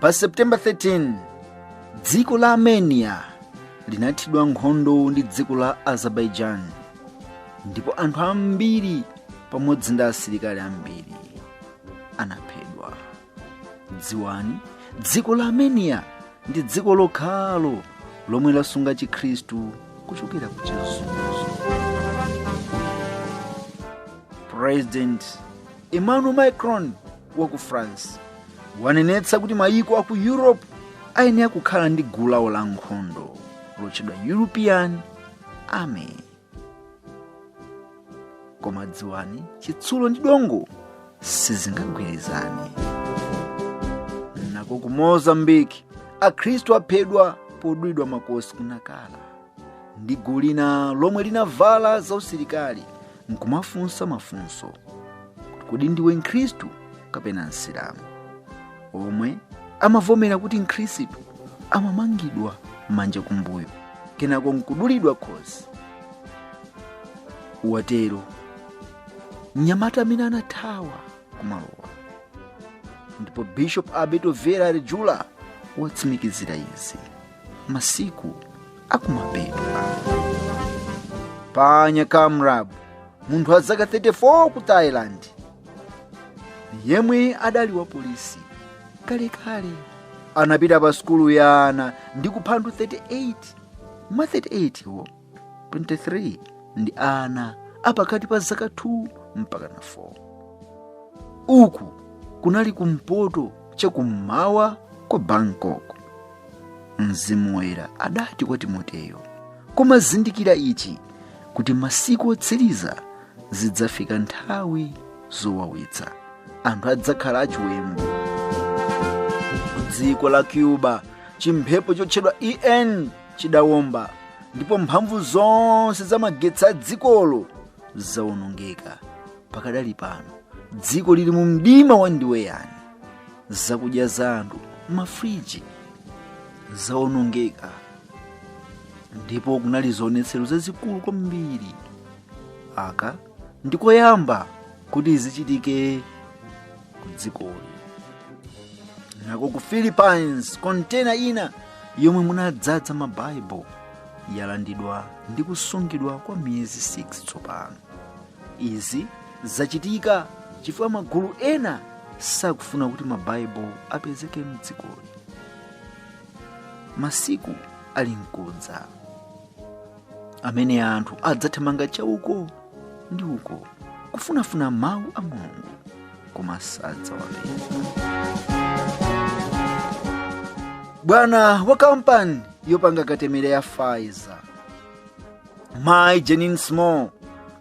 pa september 13 dziko la armenia linathidwa nkhondo ndi dziko la azerbaijan ndipo anthu ambiri pamodzi ndi asilikali ambiri anaphedwa dziwani dziko la armenia ndi dziko lokhalo lomwe lasunga chikhristu kuchokera ku chizunzo president Emmanuel Macron wa ku France wanenetsa kuti mayiko a ku Europe ayenera kukhala ndi gulu lawo la nkhondo lotchedwa European Army. Koma dziwani, chitsulo ndi dongo sizingagwirizane. Nako ku Mozambique, Akhristu aphedwa podulidwa makosi ku Nacala. ndi gulu lina lomwe linavala zausilikali nkumafunsa mafunso kuti kodi ndiwe mkhristu kapena msilamu omwe amavomera kuti mkhristu amamangidwa manja kumbuyo kenako nkudulidwa khosi watero mnyamata amene anathawa kumalowa ndipo bishop alberto vera arejula watsimikizira izi masiku akumapedwa panya kamrab munthu wa zaka 34 ku thailand yemwe adali wa polisi kalekale anapita pa sukulu ya ana ndi kupha anthu 38 mwa 38 wo 23 ndi ana apakati pa zaka 2 mpaka na 4 uku kunali kumpoto chakummawa kwa bangkok mzimu woyera adati kwa timoteyo koma zindikira ichi kuti masiku otsiriza zidzafika nthawi zowawitsa anthu adzakhala achiwembu dziko la cuba chimphepo chotchedwa ian chidawomba ndipo mphamvu zonse za magetsi a dzikolo zawonongeka pakadali pano dziko lili mu mdima wandiweyani zakudya za anthu m'mafriji zawonongeka ndipo kunali zionetsero zazikulu kwambiri aka ndi koyamba kuti zichitike mudzikoli nako ku philippines kontena ina yomwe munadzadza mabaibulo yalandidwa ndi kusungidwa kwa miyezi 6 tsopano izi zachitika chifukwa magulu ena sakufuna kuti mabaibulo apezeke mdzikoli masiku ali nkudza amene anthu adzathamanga chauko ndi uko kufunafuna mawu a mulungu koma sadzawapeza bwana wa kampani yopanga katemera ya pfizer mayi janine small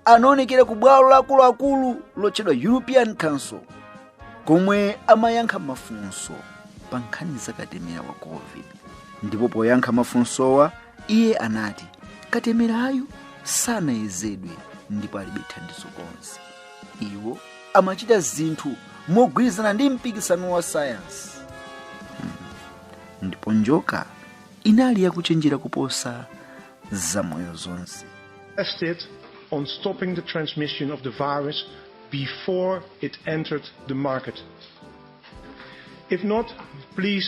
anaonekera ku bwalo la akuluakulu lotchedwa european council komwe amayankha mafunso pa nkhani za katemera wa covid ndipo poyankha mafunsowa Iye anati, Katemerayu sanayezedwe ndipo alibe thandizo konse. Iwo amachita zinthu mogwirizana ndi mpikisano wa sayansi. Hmm. Ndipo njoka inali yakuchenjera kuposa zamoyo zonse. tested on stopping the transmission of the virus before it entered the market. If not, please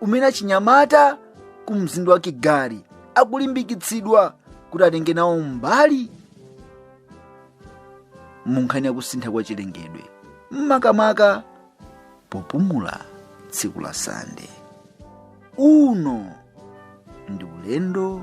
umene achinyamata ku mzinda wa kigali akulimbikitsidwa kuti atenge nawo mbali mu nkhani ya kusintha kwa chilengedwe makamaka popumula tsiku la sande uno ndi ulendo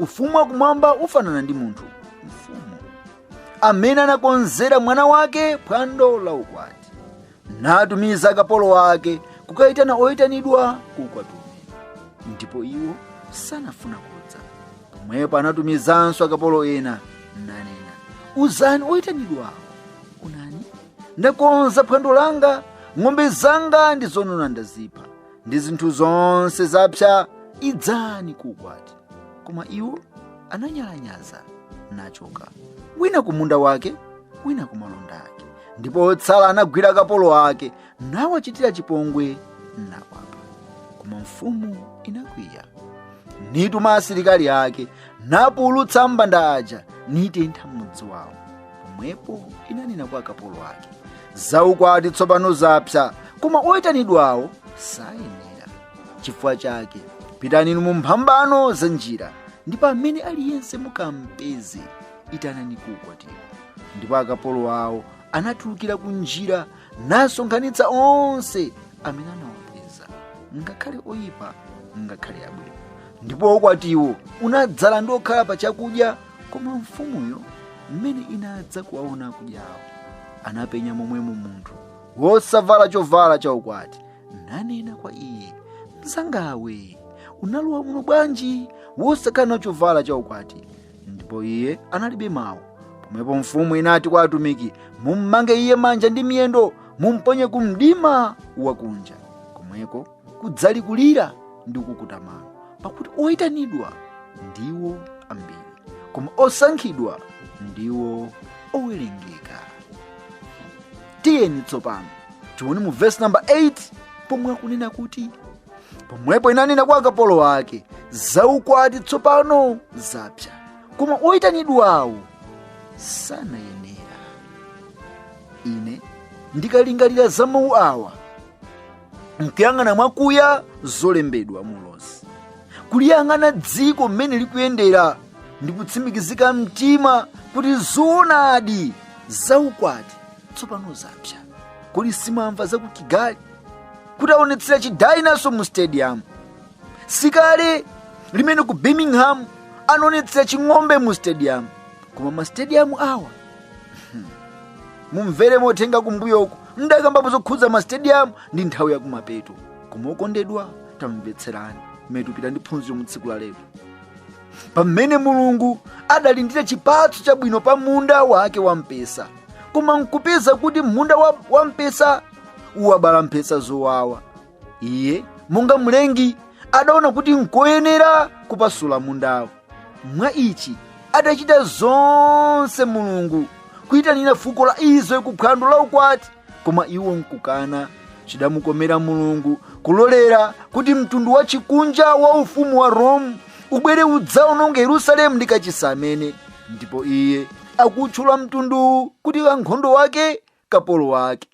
ufumu wakumwamba ufanana ndi munthu mfumu amene anakonzera mwana wake phwando la ukwati natumiza akapolo ake kukayitana oyitanidwa ku ukwatiwo ndipo iwo sanafuna kudza pomwepo anatumizanso akapolo ena nanena uzani oyitanidwawo onani ndakonza phwando langa ng'ombe zanga ndi zonona ndazipha ndi zinthu zonse zapsa idzani ku ukwati koma iwo ananyalanyaza nachoka wina ku munda wake wina ku malonda ake ndipo otsala anagwira akapolo ake nawachitira chipongwe nawapha koma mfumu inakwiya nituma asilikali ake napululutsa ambanda aja nitentha mudzi wawo pomwepo inanena kwa akapolo ake zaukwati tsopano zapsa koma oyitanidwawo sanayenera chifukwa chake pitani inu mu mphambano za njira ndipo amene aliyense mukampeza itanani ku ukwatiwo ndipo akapolowo anatulukira ku njira nasonkhanitsa onse amene anawapeza ngakhale oyipa ngakhale abwino ndipo ukwatiwo unadzala ndi okhala pa chakudya koma mfumuyo mmene inadza kuwaona akudyawo anapenya momwemo munthu wosavala chovala cha ukwati nanena kwa iye mzangawe unalowa muno bwanji wosakhala na chovala cha ukwati ndipo iye analibe mawu pomwepo mfumu inati kwa atumiki mummange iye manja ndi miyendo mumponye ku mdima wakunja komweko kudzali kulira ndi kukukuta mano pakuti oyitanidwa ndiwo ambiri koma osankhidwa ndiwo owerengeka tiyeni tsopano tione mu vesi namba 8 pomwe akunena kuti pomwepo inanena kwa akapolo ake zaukwati tsopano zapsa koma oyitanidwawo sanayenera ine ndikalingalira za mawu awa nkuyang'ana mwakuya zolembedwa mulosi kuliyang'ana dziko mmene likuyendera ndi kutsimikizika mtima kuti zoonadi zaukwati tsopano zapsa kodi simunamva za ku kigali kuti aonetsera chidayinaso mu stadium sikale limene ku birmingham anaonetsera ching'ombe mu stadium koma mastadium awa mumvere mothenga kumbuyoko mdakambapo zokhudza masitediyamu ndi nthawi yakumapeto koma okondedwa tamvetserani mmene tikupita ndi phunziro mu tsiku la lero pamene mulungu adalindira chipatso chabwino pa munda wake wa mpesa koma nkupeza kuti munda wa mpesa uwabala mphesa zowawa iye monga mlengi adaona kuti nkoyenera kupasula mundawo mwa ichi atachita zonse mulungu kuyitanira fuko la israeli ku phwando la ukwati koma iwo nkukana chidamukomera mulungu kulolera kuti mtundu wa chikunja wa ufumu wa rome ubwere udzaononge yerusalemu ndi kachisi amene ndipo iye akutchula mtunduwu kuti ankhondo wake kapolo wake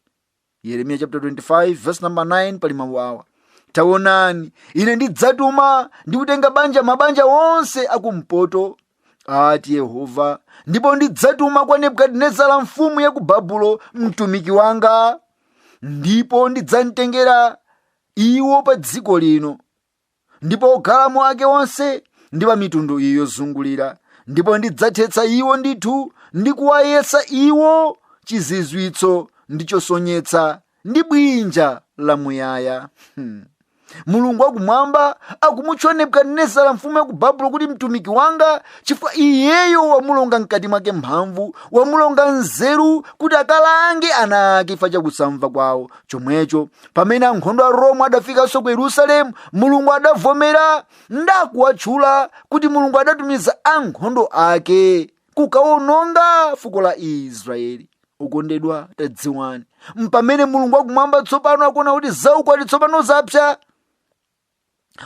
yeremiya chapter 25 verse number 9 pali mawu awa taonani ine ndidzatuma ndi kutenga banja mabanja onse akumpoto ati yehova ndipo ndidzatuma kwa nebukadinezara mfumu ya ku babulo mtumiki wanga ndipo ndidzamtengera iwo pa dziko lino ndipo okhalamo ake onse ndi pa mitundu iyo yozungulira ndipo ndidzathetsa iwo ndithu ndi kuwayesa iwo chizizwitso ndi chosonyetsa ndi bwinja lamuyaya hmm. mulungu wakumwamba akumutcha nebukadinezara mfumu ya ku babulo kuti mtumiki wanga chifukwa iyeyo wamulonga mkati mwake mphamvu wamulonga nzeru kuti akalange ana ake chifukwa chakusamva kwawo chomwecho pamene ankhondo a roma adafikanso ku yerusalemu mulungu adavomera ndakuwatchula kuti mulungu adatumiza ankhondo ake kukawononga fuko la israeli okondedwa tadziwani pamene mulungu wakumwamba tsopano akuona kuti zaukwati tsopano zapsa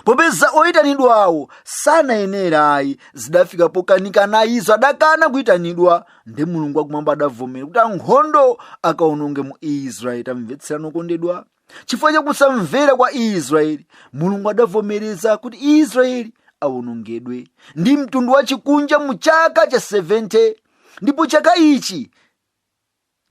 popeza oyitanidwawo sanayenera ayi zidafika pokanikana izo adakana kuyitanidwa ndi mulungu wakumwamba adavomera kuti ankhondo akaononge mu israeli tamvetserani okondedwa chifukwa cha kusamvera kwa israeli mulungu adavomereza kuti israeli awonongedwe ndi mtundu wachikunja mu chaka cha 70 ndipo chaka ichi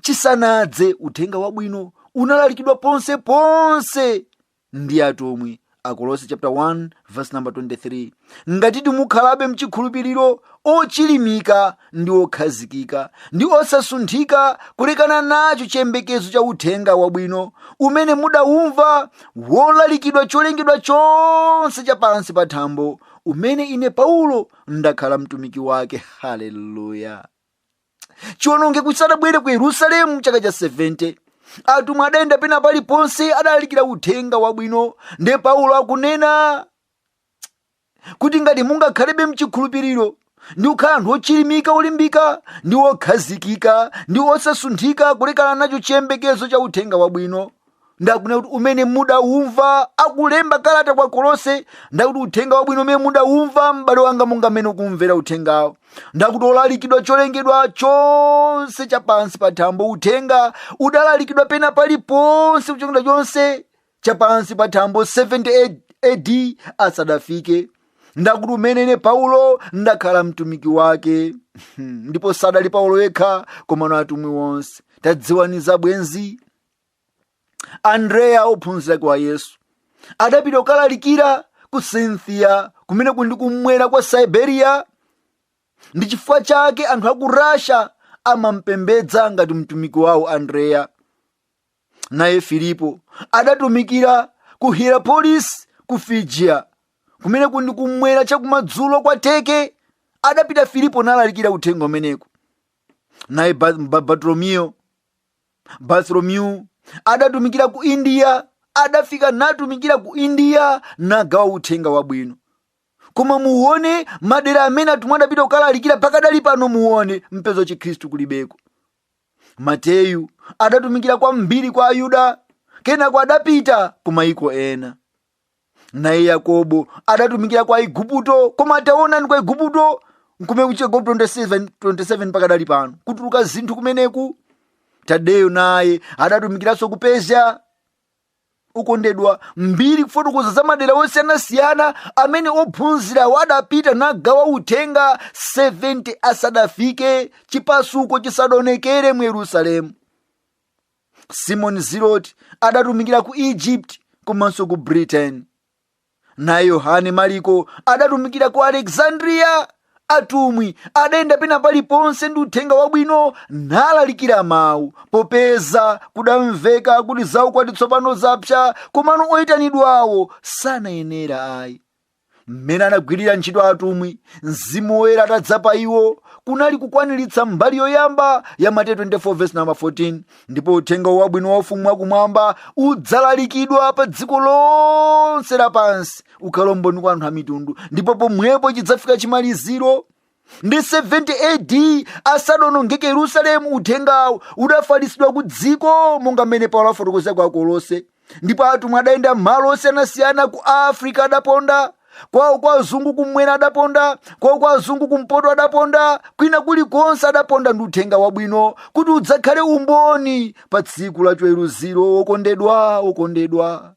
chisanadze, Uthenga Wabwino unalalikidwa ponse ponse ndi atumwi. Akolose chapter 1 verse number 23 ngatitu mukhalabe mchikhulupiriro ochilimika ndi okhazikika ndi osasunthika kulekana nacho chiyembekezo cha uthenga wabwino umene mudawumva wolalikidwa cholengedwa chonse cha pansi pa thambo umene ine paulo ndakhala mtumiki wake haleluya chiwonongeko chisadabwere ku yerusalemu mchaka cha 70 atumwi adayenda pena paliponse adalalikira uthenga wabwino nde paulo akunena kuti ngati mungakhalebe mchikhulupiriro ndi kukhala anthu ochilimika olimbika ndi okhazikika ndi osasunthika kulekana nacho chiyembekezo cha uthenga wabwino ndakunena kuti umene mudawumva akulemba kalata kwa kolose ndakuti uthenga wabwino umene mudawumva m'bale wanga monga mmene ukumvera uthengawo ndakuti olalikidwa cholengedwa chonse chapansi pa thambo uthenga udalalikidwa pena paliponse ku cholengedwa chonse chapansi pa thambo 70 ad asadafike ndakuti umene ine paulo ndakhala mtumiki wake ndipo sadali paulo yekha komano atumwi wonse tadziwani za bwenzi andreya ophunzira wake wa yesu adapita kukalalikira ku scythia kumene kuli kumwera kwa siberia ndi chifukwa chake anthu aku russia amampembedza ngati mtumiki wawo andreya naye filipo adatumikira ku hierapolis ku frigiya kumene kuli kumwera chakumadzulo kwa teke adapita filipo nalalikira uthenga umeneku naye Ba- Ba- bartolomeyo bartholomew adatumikira ku india adafika natumikira ku india nagawa uthenga wabwino koma muone madera amene atumwi adapita kukalalikira pakadali pano muone mupeza chikhristu kulibeko mateyu adatumikira kwambiri kwa ayuda kenako adapita ku mayiko ena naye yakobo adatumikira kwa aiguputo koma taonani kwa aiguputo nkumene kuchigwa 27 27 pakadali pano kutuluka zinthu kumeneku tadeyo naye adatumikiranso ku persia okondedwa mbiri ikufotokoza za madera osiyanasiyana amene ophunzirawo adapita nagawa uthenga 70 asadafike chipasuko chisadaonekere mu yerusalemu simoni zilote adatumikira ku egypt komanso ku britain naye yohane mariko adatumikira ku alexandria atumwi adayenda pena paliponse ndi uthenga wabwino nalalikira mawu popeza kudamveka kuti zaukwati tsopano zapsa komano oyitanidwawo sanayenera ayi mmene anagwirira ntchito atumwi mzimu woyera atadza pa iwo kunali kukwaniritsa mbali yoyamba ya mateyu 24 verse number 14 ndipo uthenga wabwino wa ufumu wakumwamba udzalalikidwa pa dziko lonse lapansi ukhale umboni kwa anthu a mitundu ndipo pomwepo chidzafika chimaliziro ndi 70 AD asadaonongeke Yerusalemu uthengawo udafalitsidwa ku dziko monga mmene Paulo afotokoza kwa Akolose ndipo atumwi adayenda malo osiyanasiyana ku Afrika adaponda kwawo kwa azungu kumwera adaponda kwawo kwa azungu kumpoto adaponda kwina kulikonse adaponda ndi uthenga wabwino kuti udzakhale umboni pa tsiku la chiweruziro okondedwa okondedwa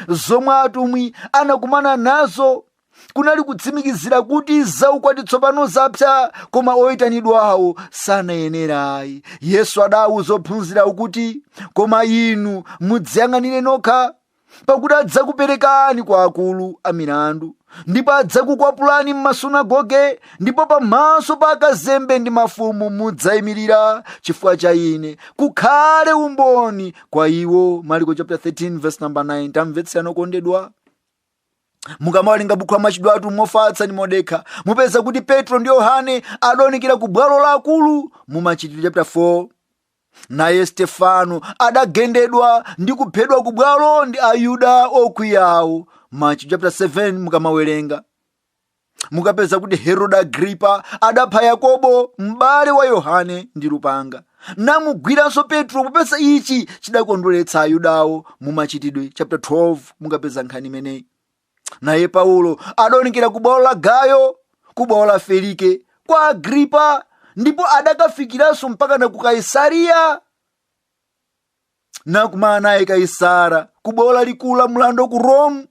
zomwe atumwi anakumana nazo kunali kutsimikizira kuti zaukwati tsopano zapsa koma oyitanidwawo sanayenera ayi yesu adawauza ophunzira kuti koma inu mudziyang'anire nokha pakuti adzakuperekani kwa akulu a milandu ndipo adzakukwapulani m'masunagoge ndipo pamaso pa akazembe ndi mafumu mudzayimirira chifukwa cha ine kukhale umboni kwa iwo mariko chapter 13 verse number 9 tamvetserani okondedwa mukamawerenga bukhu la machitidwe a atumwi mofatsa ndi modekha mupeza kuti petro ndi yohane adaonekera ku bwalo la akulu mu machitidwe chapter 4 naye stefano adagendedwa ndi kuphedwa ku bwalo ndi ayuda okwiyawo machitidwe chapter 7 mukamawerenga mukapeza kuti herode agripa adapha yakobo m'bale wa yohane ndi lupanga namugwiranso petro popeza ichi chidakondweretsa ayudawo mu machitidwe chapter 12 mukapeza nkhani imeneyi naye paulo adaonekera ku bwalo la gayo ku bwalo la felike kwa agripa ndipo adakafikiranso mpaka na ku kaisariya nakumana naye kaisara ku bwalo lalikulu la mlandu ku rome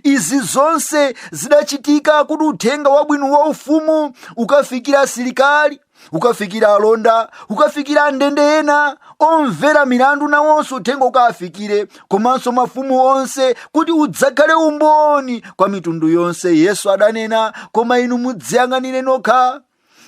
izi zonse zidachitika kuti uthenga wabwino wa ufumu ukafikire asilikali ukafikire alonda ukafikire andende ena omvera milandu nawonso uthenga ukafikire komanso mafumu onse kuti udzakhale umboni kwa mitundu yonse yesu adanena koma inu mudziyang'anire nokha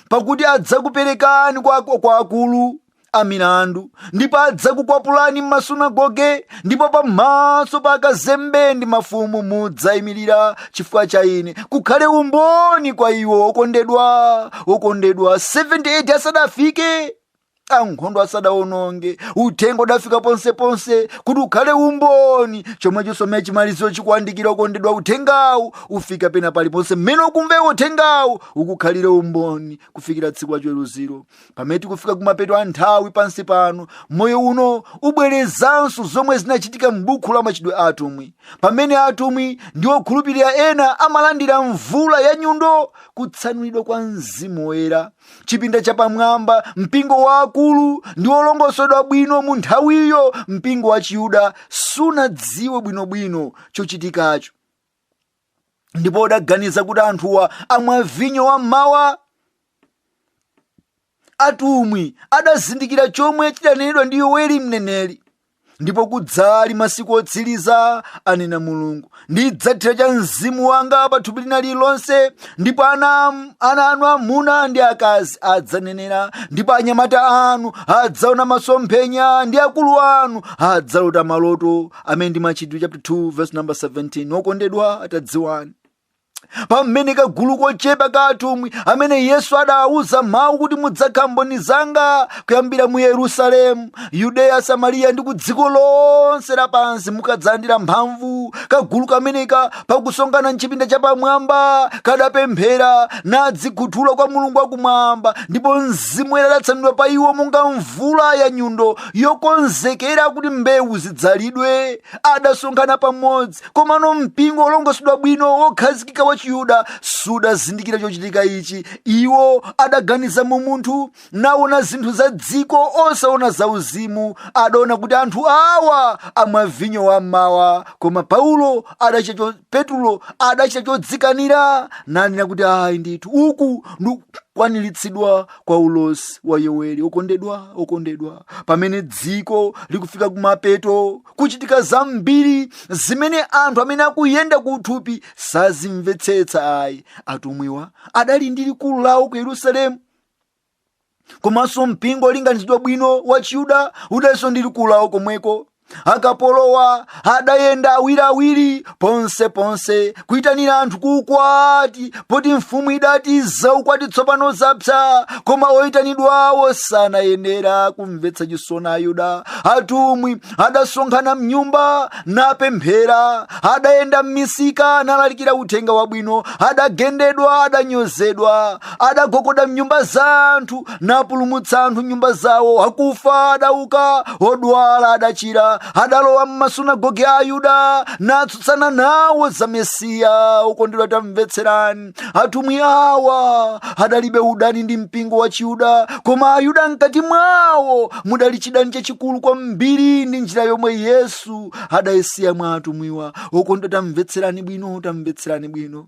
pakuti adzakuperekani kwa akulu a milandu ndipo adzakukwapulani m'masunagoge ndipo pamaso pa akazembe ndi mafumu mudzayimirira chifukwa cha ine kukhale umboni kwa iwo okondedwa okondedwa 70 AD asadafike ankhondo asadawononge uthenga udafika ponseponse kuti ukhale umboni chomwecho mmene chimaliziro chikuwandikira okondedwa uthengawu ufika pena paliponse mmene ukumva iwe uthengawu ukukhalire umboni kufikira tsiku la chiweruziro pamene tikufika kumapeto a nthawi pansi pano moyo uno ubwerezanso zomwe zinachitika m'buku la machitidwe a atumwi pamene atumwi ndi okhulupirira ena amalandira mvula ya nyundo kutsanulidwa kwa mzimu woyera chipinda chapamwamba mpingo waukulu ndi wolongosoledwa bwino mu nthawiyo mpingo wa chiyuda sunadziwe bwinobwino chochitikacho ndipo udaganiza kuti anthuwa amwa vinyo wa mmawa atumwi adazindikira chomwe chidanenedwa ndi yoweli mneneri ndipo kudzali masiku otsiriza anena mulungu ndidzathira cha mzimu wanga pa thupi lina lililonse ndipo ana ana anu amuna ndi akazi adzanenera ndipo anyamata anu adzaona masomphenya ndi akulu anu adzalota maloto amene ndi machitidwe chapter 2 verse number 17 okondedwa tadziwani pamene kagulu kochepa ka atumwi amene yesu adawuza mawu kuti mudzakhala mboni zanga kuyambira mu yerusalemu yudeya samariya ndi ku dziko lonse lapansi mukadzalandira mphamvu kagulu kameneka pakusonkhana mchipinda chapamwamba kadapemphera nadzikhuthula kwa mulungu wakumwamba ndipo mzimu woyera adatsanulidwa pa iwo monga mvula ya nyundo yokonzekera kuti mbewu zidzalidwe adasonkhana pamodzi komano mpingo wolongosoledwa bwino wokhazikika wa chiyuda sudazindikira chochitika ichi iwo adaganiza mu umunthu naona zinthu za dziko osaona za uzimu adaona kuti anthu awa amwa vinyo wammawa koma paulo adachita cho- petulo adachita chodzikanira nanena kuti ayi ndithu uku ndikukwaniritsidwa kwa ulosi wa yoweli okondedwa okondedwa pamene dziko likufika kumapeto kuchitika zambiri zimene anthu amene akuyenda ku uthupi sazimvetsetsa ayi atumwiwa adali ndi likulu lawo ku yerusalemu komanso mpingo wolinganizidwa bwino wa chiyuda udalinso ndi likulu lawo komweko akapolowa adayenda awiriawiri ponse ponse kuyitanira anthu kuukwati poti mfumu idati zaukwati tsopano zapsa koma oyitanidwawo sanayenera kumvetsa chisoni ayuda atumwi adasonkhana mnyumba napemphera adayenda m'misika nalalikira uthenga wabwino adagendedwa adanyozedwa adagogoda m'nyumba za anthu napulumutsa anthu m'nyumba zawo akufa adauka odwala adachira adalowa m'masunagoge a ayuda natsutsana nawo za mesiya okondedwa tamvetserani atumwi awa adalibe udani ndi mpingo wa chiyuda koma ayuda mkati mwawo mudali chidani chachikulu kwambiri ndi njira yomwe yesu adayisiya mwa atumwiwa okondedwa tamvetserani bwino tamvetserani bwino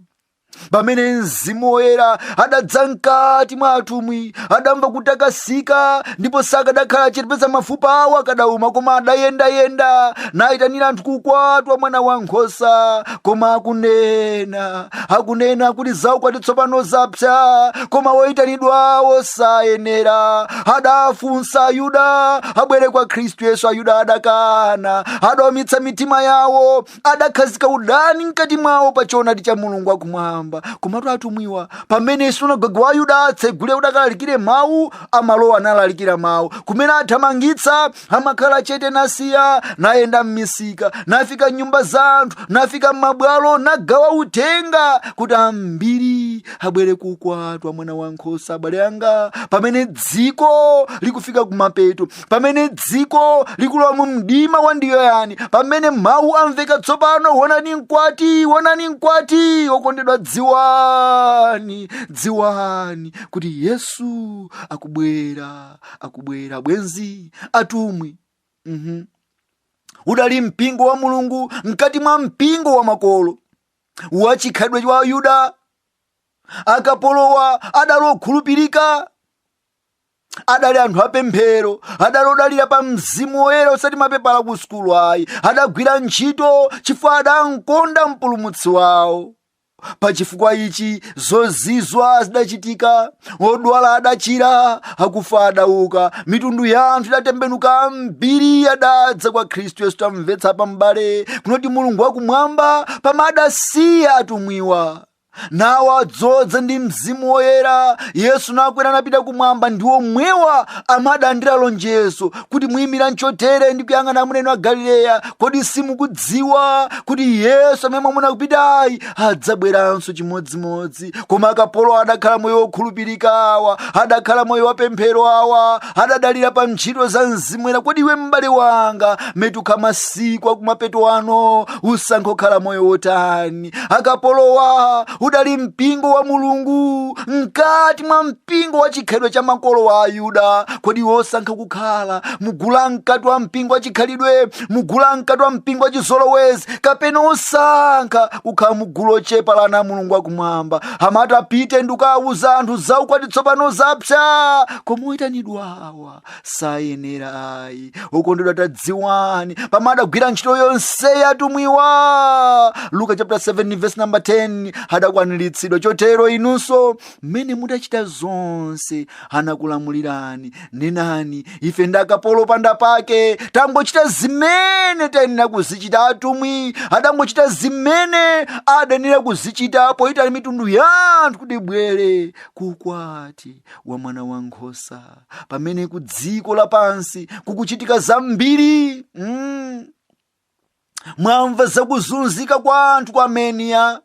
pamene mzimu woyera adadza mkati mwa atumwi adamva kutakasika ndipo sakadakhala chete peza mafupa awo akadauma koma adayendayenda nayitanira anthu ku ukwati wa mwana wa nkhosa koma akunena akunena kuti za ukwati tsopano zapsa koma woyitanidwawo sayenera adafunsa ayuda abwere kwa khristu yesu ayuda adakana adaumitsa mitima yawo adakhazika udani mkati mwawo pa choonadi cha mulungu wakumwamba komatu atumwiwa pamene sunagoge wa ayuda atsegule kuti akalalikire mawu amalowa nalalikira mawu kumene athamangitsa amakhala chete nasiya nayenda m'misika nafika m'nyumba za anthu nafika m'mabwalo nagawa uthenga kuti ambiri abwere ku ukwati wa mwana wa nkhosa abale anga pamene dziko likufika kumapeto pamene dziko likulowa mu mdima wa ndiweyani pamene mawu amveka tsopano wonani mkwati wonani mkwati wokondedwa dziwani dziwani kuti yesu akubwera akubwera bwenzi atumwi mm udali mpingo wa mulungu mkati mwa mpingo wa makolo wachikhalidwe cha ayuda akapolowa adali okhulupirika adali anthu apemphero adali odalira pa mzimu woyera osati mapepala a ku sukulu ayi adagwira ntchito chifukwa adamkonda mpulumutsi wawo pa chifukwa ichi zozizwa zidachitika odwala adachira akufa adauka mitundu ya anthu idatembenuka ambiri adadza kwa khristu yesu tamvetsa apa m'bale kunena kuti mulungu wakumwamba pamene adasiya atumwiwa nawadzodza ndi mzimu woyera yesu nakwera napita kumwamba ndi omwewa amene adalandira lonjezo kuti muyimiranji chotere ndi kuyang'ana amuna inu a galileya kodi simukudziwa kuti yesu amene mwamuona akupitayu adzabweranso chimodzimodzi koma akapolowa adakhala moyo wokhulupirika awa adakhala moyo wapemphero awa adadalira pa ntchito za mzimu woyera kodi iwe m'bale wanga mmene tikukhala masiku akumapeto ano usankha kukhala moyo wotani akapolowa udali mpingo wa mulungu mkati mwa mpingo wa chikhalidwe cha makolo wa ayuda kodi wosankha kukhala mugulu la mkati wa mpingo wa chikhalidwe mugulu la mkati wa mpingo wa chizolowezi kapena wosankha kukhala mugulu lochepa la ana a mulungu wakumwamba amati apite ndi kukawuza anthu za ukwati tsopano zapsa koma oyitanidwawa sayenera ayi okondedwa tadziwani pamene adagwira ntchito yonse atumwiwa luka chapter 7 verse number 10 adakwaniritsidwa chotero inunso mmene mudachita zonse anakulamulirani nenani ife ndi akapolo opanda pake tangochita zimene tayenera kuzichita atumwi adangochita zimene adayenera kuzichita poitana mitundu ya anthu kuti ibwere kukwati wa mwana wa nkhosa pamene ku dziko lapansi kukuchitika zambiri mm. mwamva zakuzunzika kwa anthu ku ameniya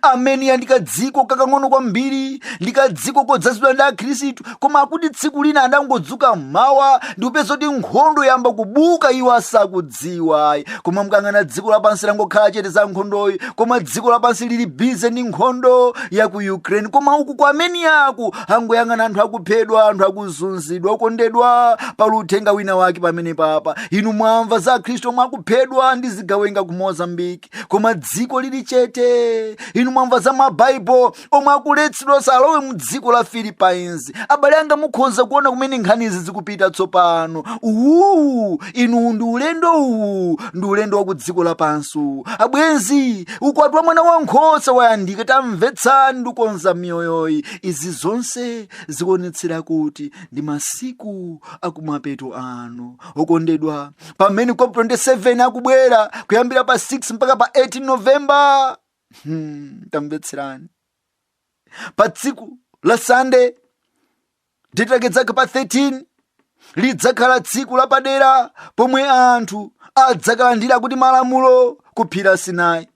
ameniya ndi kadziko kakang'ono kwambiri ndi kadziko kodzazidwa ndi akhristu koma akuti tsiku lina adangodzuka mmawa ndikupeza kuti nkhondo yayamba kubuka iwo asakudziwa sakudziwa ayi koma mukayang'ana dziko lapansi langokhala chete za nkhondoyi koma dziko lapansi lili bize ndi nkhondo ya ku ukraine koma uku ku armenia aku akungoyang'ana anthu akuphedwa anthu akuzunzidwa okondedwa pali uthenga wina wake pamenepapa inu mwamva za akhristu omwe akuphedwa ndi zigawenga ku mozambiki koma dziko lili chete inu mwamva za mabaibulo omwe akuletsedwa asalowe mu dziko la philippines abale anga mukhoza kuona kumene nkhanizi zikupita tsopano uwu inu ndi ulendo uwu ndi ulendo wa ku dziko lapansi uwu abwenzi ukwati wa mwana wa nkhosa wayandika tamvetsani ndi kukonza miyoyoyi izi zonse zikuonetsera kuti ndi masiku akumapeto ano okondedwa pamene cop 27 akubwera kuyambira pa 6 mpaka pa 18 novemba Hmm, tamvetserani pa tsiku la sande lidzakhala pa 13 lidzakhala tsiku lapadera pomwe anthu adzakalandira kuti malamulo kuphiri la sinayi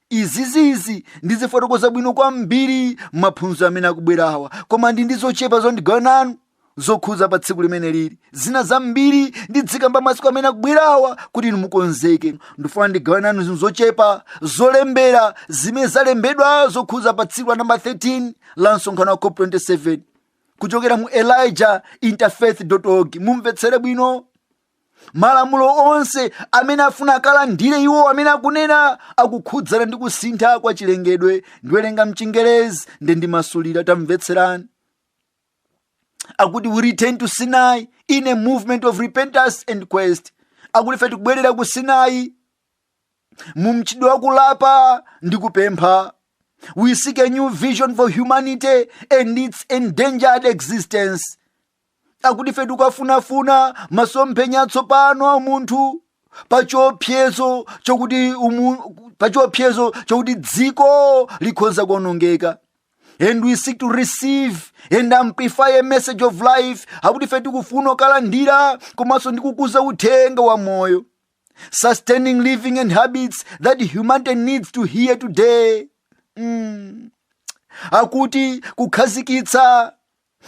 izizizi ndizifotokoza bwino kwambiri mmaphunziro amene akubwerawa koma ndi ndi zochepa zoti ndigawane nanu zokhudza pa tsiku limeneli zina zambiri ndidzikamba masiku amene akubwerawa kuti inu mukonzeke ndifuna ndigawane nanu zinthu zochepa zolembera zimene zalembedwa zokhudza pa tsiku la namba 13 la msonkhano wa cop 27 kuchokera mu elijah interfaith org mumvetsere bwino malamulo onse amene afuna akalandire iwo amene akunena akukhudzana ndi kusintha kwa chilengedwe ndiwerenga mchingerezi nde ndimasulira tamvetserani akuti we return to sinai in a movement of repentance and quest akuti ife tikubwerera ku sinai mu mchitidwe wa kulapa ndi kupempha we seek a new vision for humanity and its endangered existence akuti ife tikufunafuna masomphenya atsopano a munthu pachiopsezo chokuti dziko likhoza kuonongeka and we seek to receive and amplify a message of life akuti ife tikufuna kukalandira komanso ndi kukuza uthenga wa moyo sustaining living and habits that humanity needs to hear today mm. akuti kukhazikitsa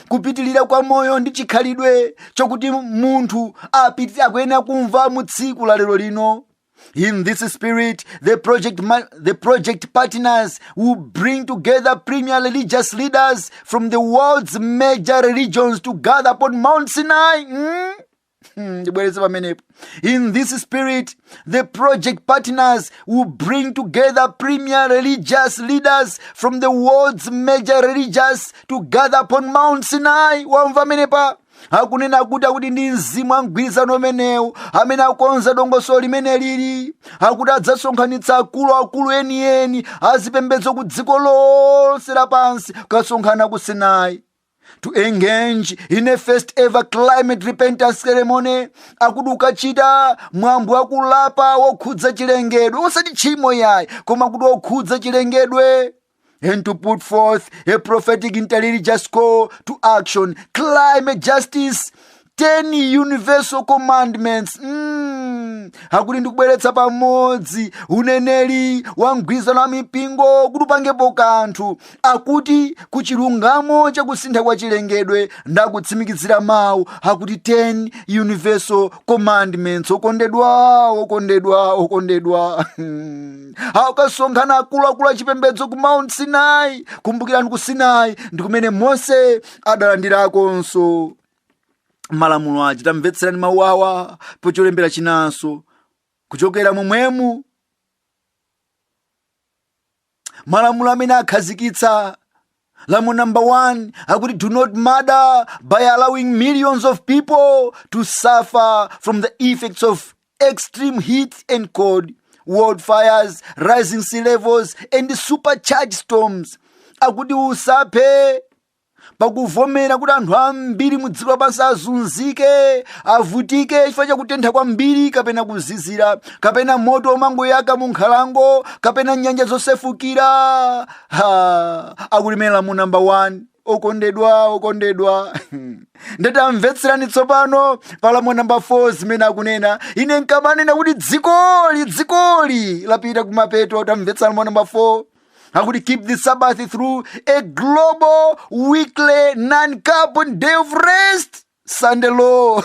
kupitilira kwa moyo ndi chikhalidwe chokuti munthu akuyenera kumva mu tsiku la lero lino in this spirit the project partners will bring together premier religious leaders from the world's major religions to gather upon mount sinai mm? Hmm, ndibwereze pamenepo in this spirit the project partners will bring together premier religious leaders from the world's major religious to gather upon mount sinai wamva pamenepa akunena kuti akuti ndi mzimu wa mgwirizano umenewu amene akonza dongosolo limeneli akuti adzasonkhanitsa akuluakulu enieni azipembedzo ku dziko lonse lapansi kukasonkhana ku sinai to engage in a first ever climate repentance ceremony akuti kukachita mwambo wakulapa wokhudza chilengedwe osati tchimo yayi koma kuti wokhudza chilengedwe and to put forth a prophetic interreligious call to action climate justice 10 universal commandments mm. akuti ndi kubweretsa pamodzi uneneri wa mgwirizano wa mipingo kuti upangepo kanthu akuti ku chilungamo cha kusintha kwa chilengedwe ndi kutsimikizira mawu akuti 10 universal commandments okondedwa okondedwa okondedwa akasonkhana akuluakulu achipembedzo ku mount sinai kumbukirani ku sinai ndi kumene mose adalandirakonso malamulo aja tamvetserani mawu awa pocholembera chinanso kuchokera momwemu malamulo amene akhazikitsa lamulo number one akuti do not murder by allowing millions of people to suffer from the effects of extreme heat and cold wildfires rising sea levels and supercharged storms akuti usaphe pakuvomera kuti anthu ambiri mu dziko lapansi azunzike avutike chifukwa chakutentha kwambiri kapena kuzizira kapena moto womangoyaka mu nkhalango kapena nyanja zosefukira akuti mene lamulo namba 1 okondedwa okondedwa ndatamvetserani tsopano palamulo namba 4 zimene akunena ine nkamanena kuti dzikoli dzikoli lapita kumapeto tamvetserani lamulo namba 4 akuti keep the sabbath through a global weekly non-carbon day of rest sunday law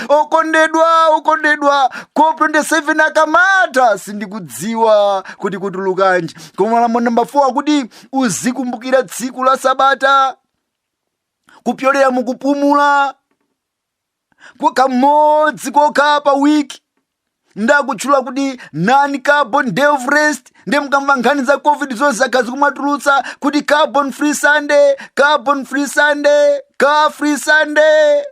okondedwa okondedwa cop 27 akamata sindikudziwa kuti kutulukanji koma lamulo namba 4 akuti uzikumbukira tsiku la sabata kupyolera mukupumula kwa kamodzi kokha pa wiki ndakutchula kuti non carbon day of rest nde mkamva nkhani za covid zonse zakhala zikumatulutsa kuti carbon free sunday carbon free sunday car free sunday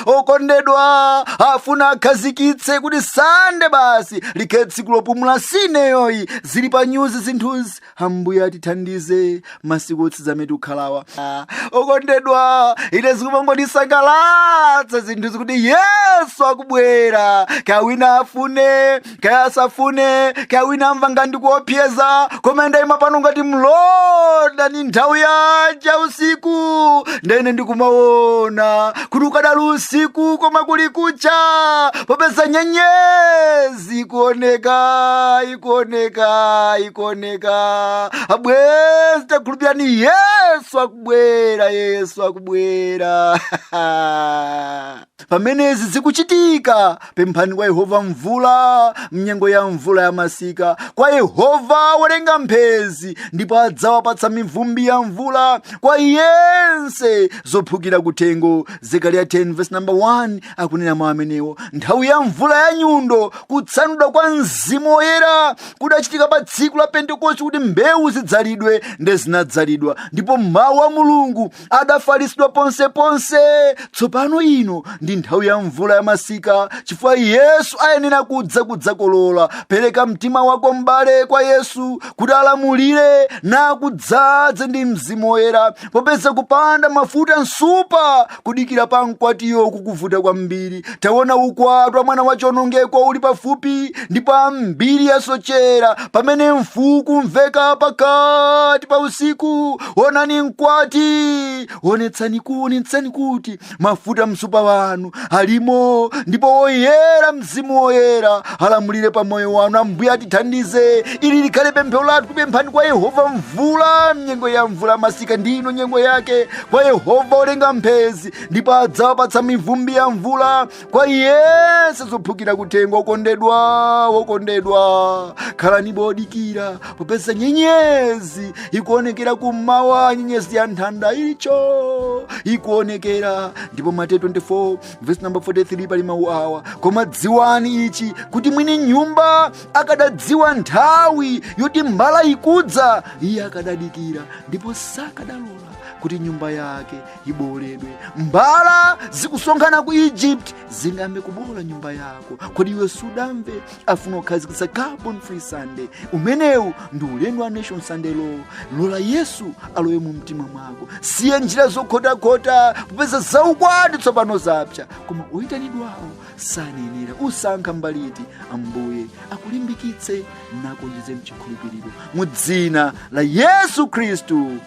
okondedwa afuna akhazikitse kuti sande basi likhale tsiku lopumula sineyoyi zili pa nyuzi zinthuzi ambuye atithandize masiku otsiriza amene tikukhalawa Ah, okondedwa ine zikumangondisangalatsa zinthuzi kuti yesu akubwera kaya wina afune kaya asafune kaya wina amva ngati ndikuopseza koma ndayima pano ngati mlonda ndi nthawi yanji ya usiku ndene ndikumaona kuti ukadali usiku koma kuli kucha popeza nyenyezi ikuoneka ikuoneka ikuoneka abwenzi takhulupirirani yesu akubwera yesu akubwera pamene izi zikuchitika pemphani kwa yehova mvula mnyengo ya mvula ya masika kwa yehova wolenga mphezi ndipo adzawapatsa mivumbi ya mvula kwa yense zophukira kuthengo zekariya 10 verse number 1 akunena mawu amenewo nthawi ya mvula ya nyundo kutsanulidwa kwa mzimu woyera kudachitika pa tsiku la pentekosti kuti mbewu zidzalidwe nde zinadzalidwa ndipo mawu a mulungu adafalitsidwa ponseponse tsopano ino ndi nthawi ya mvula ya masika chifukwa yesu ayenera kudza kudzakolola pereka mtima wako m'bale kwa yesu kuti alamulire nakudzadze ndi mzimu woyera popeza kupanda mafuta msupa kudikira pa mkwatiyo kukuvuta kwambiri taona ukwati wa mwana wa chionongeko uli pafupi ndipo ambiri asochera pamene mfuu ikumveka pakati pa usiku onani mkwati onetsani kuonetsani kuti mafuta msupa wanu alimo ndipo woyera mzimu woyera alamulire pa moyo wanu ambuye atithandize ili likhale pemphero lathu pemphani kwa yehova mvula mnyengo ya mvula masika ndi ino nyengo yake kwa yehova olenga mphezi ndipo adzawapatsa mivumbi ya mvula kwa yense zophukira kuthengo okondedwa wokondedwa khalani odikira popeza nyenyezi ikuonekera kummawa nyenyezi ya nthanda iyo ikuonekera ndipo mateyu 24 vesi namba 43 pali mawu awa koma dziwani ichi kuti mwini nyumba akadadziwa nthawi yoti mbala ikudza iye akadadikira ndipo sakadalola kuti nyumba yake ibowoledwe mbala zikusonkhana ku egypt zingayambe kubowola nyumba yako kodi iwe sudamve afuna kukhazikitsa carbon free sunday umenewu ndi ulendo wa nation sunday law lola yesu alowe mu mtima mwako siya njira zokhotakhota popeza zaukwati tsopano zapsa koma oyitanidwawo sanayenera usankha mbali iti ambuye akulimbikitse nakuonjeze mchikhulupiriro mu dzina la yesu khristu